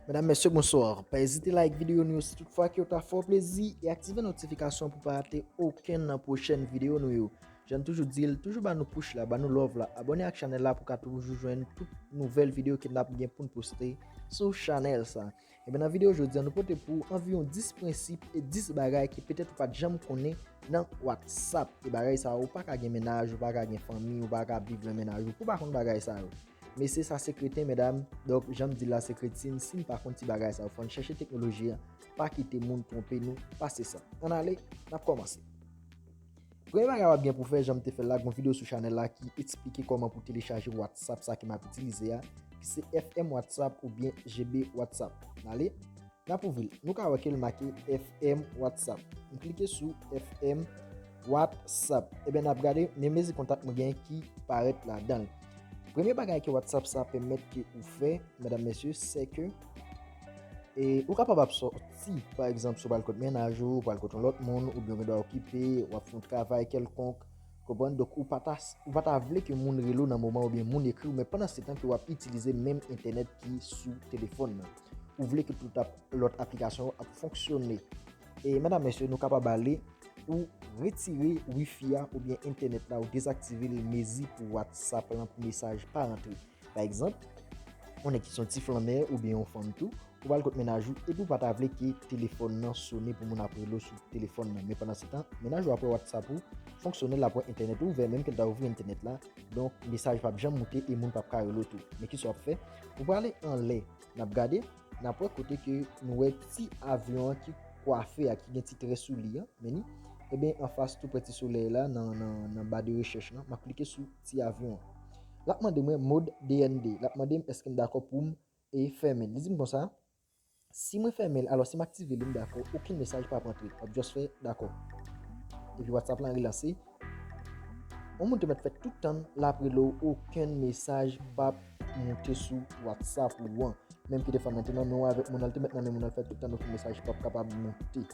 Madame, mèsyè, bonsoir. Pa ezite like videyo nou yo si tout fwa ki yo ta fò plezi e aktive notifikasyon pou pa rate oken nan pwochèn videyo nou yo. Jann toujou dil, toujou ba nou push la, ba nou love la, abone ak chanel la pou ka toujou jwenn tout nouvel video ke nap gen poun poste sou chanel sa. Ebyen nan video jodi an nou pote pou anviron 10 prensip e 10 bagay ke petet ou pat janm konnen nan WhatsApp. E bagay sa ou paka gen menaj, ou paka gen fanmi, ou paka ap viv nan menaj ou pou pa konn bagay sa yo. Mesye sa se kreten medam, donk janm dil la se kretin, sin pa konn ti bagay sa yo fòn chèche teknoloji an, pa kite moun twonpe nou, pase sa. An ale, nap komanse. Premye bagay wap gen pou fè janm te fèl la gon video sou chanèl la ki esplike kòman pou telechaje whatsapp sa ke map itilize a ki se FM whatsapp ou byen GB whatsapp nale nap ouvril nou ka wè kel make FM whatsapp nou klike sou FM whatsapp ebyen nap gade men mezi kontak mwen gen ki parèt ladanl premye bagay ke whatsapp sa pèmèt ke ou fè medam mesye seke E ou kapab ap sòti, pa egzanp, si w pral kot mennaj ou, ou pral kot yon lòt moun, oubyen ou gen dwa okipe, w ap fè yon travay kèlkonk, konprann? Donk ou pa ta, ou pa ta vle ke moun rele w nan moman oubyen moun ekri w, men pandansetan ke w ap itilize menm entènèt ki sou telefòn nan. Ou vle ke tout ap, lòt aplikasyon yo ap fonksyone. E medam, mesye, nou kapab ale, ou retire wifi a oubyen entènèt la, ou dezaktive l, mezi pou WhatsApp lan, pou mesaj pa rantre. Pa egzanp, yon nèg ki se yon ti flannè oubyen yon fanm tou, ou pral kot mennaj ou epi ou pa ta vle ke telefòn nan sone pou moun ap rele w sou telefòn nan. Men pandansetan, mennaj ou ap wè whatsapp ou fonksyone, l ap wè entènèt ou ouvè menm ke l ta ouvri entènèt la, donk mesaj pap janm moute e moun pap ka rele w tou. Men kisa w ap fè? Ou prale anlè, n ap gade, n ap wè kote ke nou wè ti avyon an ki kwafe a, ki gen ti trè sou li an, men ni, eben anfas tou prè ti solèy la nan ba de rechèch lan, m ap klike sou. ti avyon an. L ap mande mwen mod DND. L ap mande m èske m dakò pou m e fèmen l. Li di m konsa, Si mwen fèmen l, alò si m aktive li m dakò, okenn mesaj pap antre. W ap just fè dakò. Epi whatsapp lan relanse. Yon moun te mèt fè tout tann l ap rele w okenn mesaj pap moute sou whatsapp ou an. Menm ki defwa mwen te nan men w avèk moun nan, l te mèt nan men moun nan l fè tout tann okenn mesaj pap kapab moute.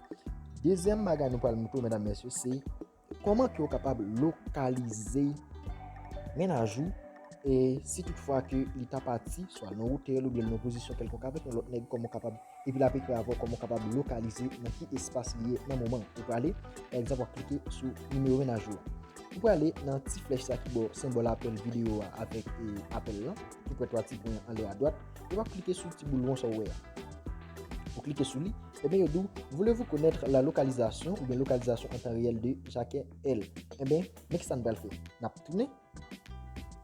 Dezyèm bagay nou pral montre w medam mesye se. Kòman ke ou kapab lokalize mennaj ou e si tout fwa ke li ta pati swa nan otèl ou byen nan pozisyon kèlkonk avèk yon lòt nèg kòman ou kapab epi lap ekri avèw kòman ou kapab lokalize nan ki espas li ye nan moman ou prale pa egzanp wap klike sou nimewo mennaj ou ou prale nan ti flèch sa ki bò senbòl apèl videyo a avèk apèl lan toupre 3 ti pwen anlè adwat e wap klike sou ti boul won sa ou wè a ou klike sou li. Enben yo di w, Voulez-vous connaitre la localisation oubyen localisation en temps réel de Jacques L? Enben, men kisa n pral fè. N ap tounen.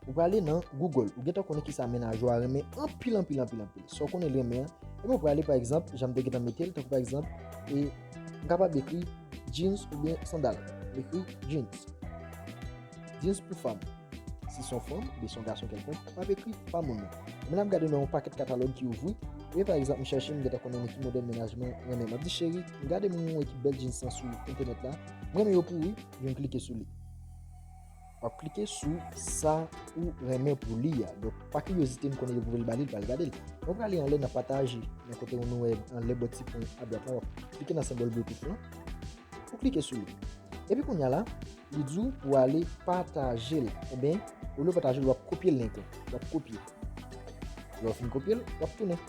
Ou prale nan Google. Ou gentan konnen kisa menaj ou a renmen anpil anpil anpil anpil. Sa w konnen l renmen an. Enben ou prale pa egzanp, jan m te gentan mete l, tankou pa egzanp, e m kapab ekri jeans oubyen sandal. M ekri jeans. Jezi pou fanm. Si son fanm oubyen son gason kelkonk, m ap ekri pa moun nan. M nan ap gade nan yon pakèt katalòg ki ouvri, e pa egzanp m chèche m gentan konnen nan ki modèl mennaj mwen renmen. M ap di cheri, m gade moun mwen wè ki bèl jeans lan sou entènèt la, m renmen yo pou ou wi, epi m klike sou li. W ap klike sou sa ou renmen pou li a. Donk pa kiryozite m konnen yo voye l ba li, li pral gade l. Mwen prale anlè nan pataje, nan kote ou nou wè anlè bò ti pwen adwat lan, w ap klike nan senbòl bluetooth lan, ou klike sou li. Epi kounya la. Li di w pou ale pataje l. Enben, olye w pataje l, w ap kopye link la. W ap kopye. Lè w fin kopye l, w ap tounen.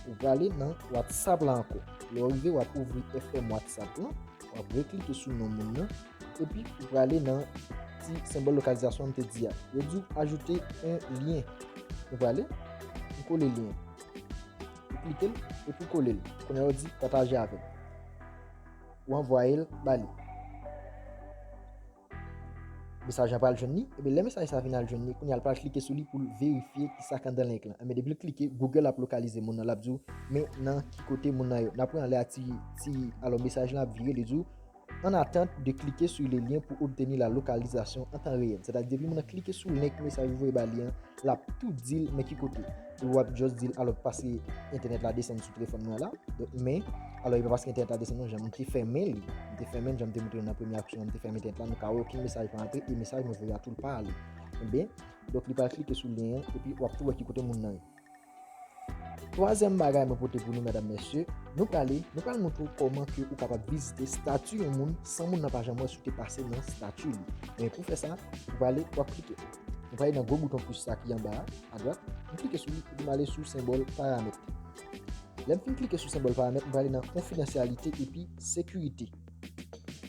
Ou prale nan WhatsApp la anko. Lè w rive, w ap ouvri FM WhatsApp la. W ap reklike sou non moun nan. Epi, ou prale nan ti senbòl lokalizasyon an te di a. Yo di w ajoute yon lyen. Ou prale, ou kole lyen. Ou klike l, epi ou kole l. Kounye a yo di pataje avè. ou anvwaye l ba li. Mesaj la pral jwenn li, ebe lè mesaj sa vin al jwenn li, kounye a l pral klike sou li pou l verifye ki sa k anndan link lan. Enben depi l klike, Google ap lokalize moun nan, l ap di w men nan ki kote moun nan ye. Nan pwen an lè a ti ti alò mesaj lan ap vire li di w an atant de klike su le lyen pou obteni la lokalizasyon an tan reyèl. Sètadi depi moun nan klike sou link mesaj ou voye ba li an, l ap tou di l men ki kote. Ou ap just dil alo pase entènèt la desann sou telefòn mwen la. Men, alo e pa paske entènèt la desann non jan mwen te fèmen li. Mwen te fèmen jan mwen te moutre nan premye aksyon mwen te fèmen entènèt la nou ka wè okenn mesaj pa antre e mesaj mwen voye a tou l pa ale. Ebyen, donk li pral klike sou lyen an epi ou ap tou wè ki kote moun nan ye. Twazyèm bagay mwen pote pou nou medam mesye, nou prale, nou pral moutre ou kòman ke ou kapab vizite stati yon moun san moun nan pa janm wè si ou te pase nan stati li. Ebyen pou fè sa, ou prale, ou ap klike. Nou pale nan gwo bouton plus la ki anba a, adwat. Nou klike sou li epi nou ale sou senbòl paramèt. Lè m fin klike sou senbòl paramèt, nou prale nan konfidansyalite epi sekirite.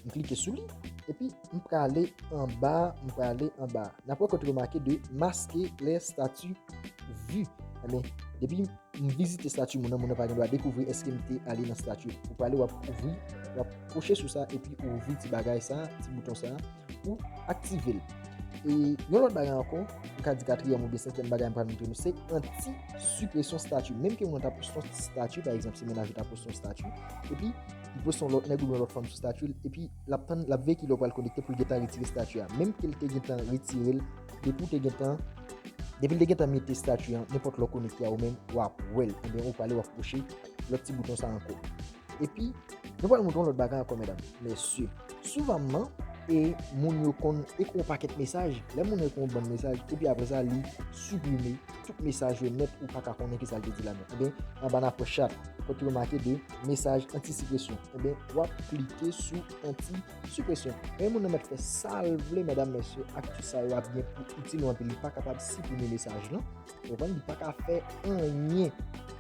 Nou klike sou li, epi nou prale anba, nou prale anba. N ap wè kote yo make de maske lè stati vi. Enben, depi m vizite stati moun nan, moun nan pa gen dwa dekouvri eske m te ale nan stati. Ou prale w ap ouvri, w ap kouche sou sa epi ou ouvri ti bagay sa, ti bouton sa. Ou aktive l. E yon lòt bagay ankò, m ka di katriyèm oubyen senkyèm bagay m pral montre nou se anti sipresyon stati. Menm ke mwen ta poste yon stati, pa egzanp si menaj ou ta poste yon stati, epi li poste yon lòt nèg oubyen yon lòt fanm sou stati l, epi l ap tann, l ap veye ki lè ou pral konekte pou l gentan retire stati a. Menm ke l te gentan retire l, depi ou te gentan, depi l te gentan mete stati an, nenpòt lè w konekte a ou menm, w ap wè l. Oubyen ou prale w ap touche lòt ti bouton sa ankò. Epi, nou pral montre yon lòt bagay ankò medam, mesye. Souvamman, e moun yo konn ekri yon pakèt mesaj, lè moun nan ekri yon bann mesaj, epi apre sa li siprime tout mesaj yo nèt, ou pa ka konnen ki sa l te di ladan. Enben, anba nan pwen chat, kote yo make de mesaj antisipresyon, enben, w ap klike sou antisipresyon. Enben, moun nan mèt fè sa l vle medam, mesye, ak tout sa yo ap gen pou itil ou anpil, li pa kapab siprime mesaj lan. Ou konprann li pa ka fè anyen.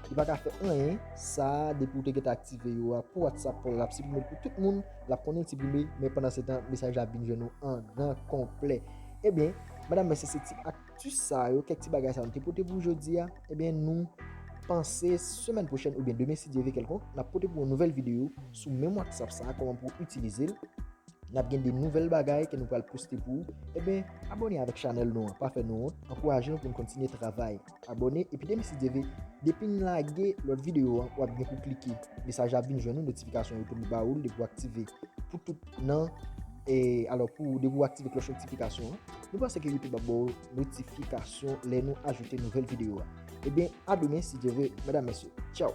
Li pa ka fè anyen. Sa depi ou te geta aktive yo a pou WhatsApp pou lap siprime pou tout moun, lap konnen siprime men pandan se tan mesaj la ap vin jwenn ou an gran konplè. Ebyen, medam mesye se ti akti sa yo, kèk ti bagay sa yo nou te pote pou jodi a. Ebyen nou panse semèn pwochèn oubyen demen si Dye ve kèlkonk, nap pote pou yon nouvèl videyo sou menm WhatsApp sa a, kòman pou itilize l. Nap gen de nouvèl bagay ke nou pral poste pou ou, eben abone avèk chanèl nou an, pa fè nou wont, ankouraje nou pou nou kontinye travay. Abone epi depi si Dye ve, depi nou lage lòt videyo an wap gen pou klike, mesaj la ap vin jwenn ou, notifikasyon yo tou li ba ou l, depi ou aktive pou tout nan e alò pou depi ou aktive klòch notifikasyon an, nou panse ke youtube ap ba ou notifikasyon lè nou ajoute nouvèl videyo a. Eben a demen si Dye ve, medam mesye, tchaw!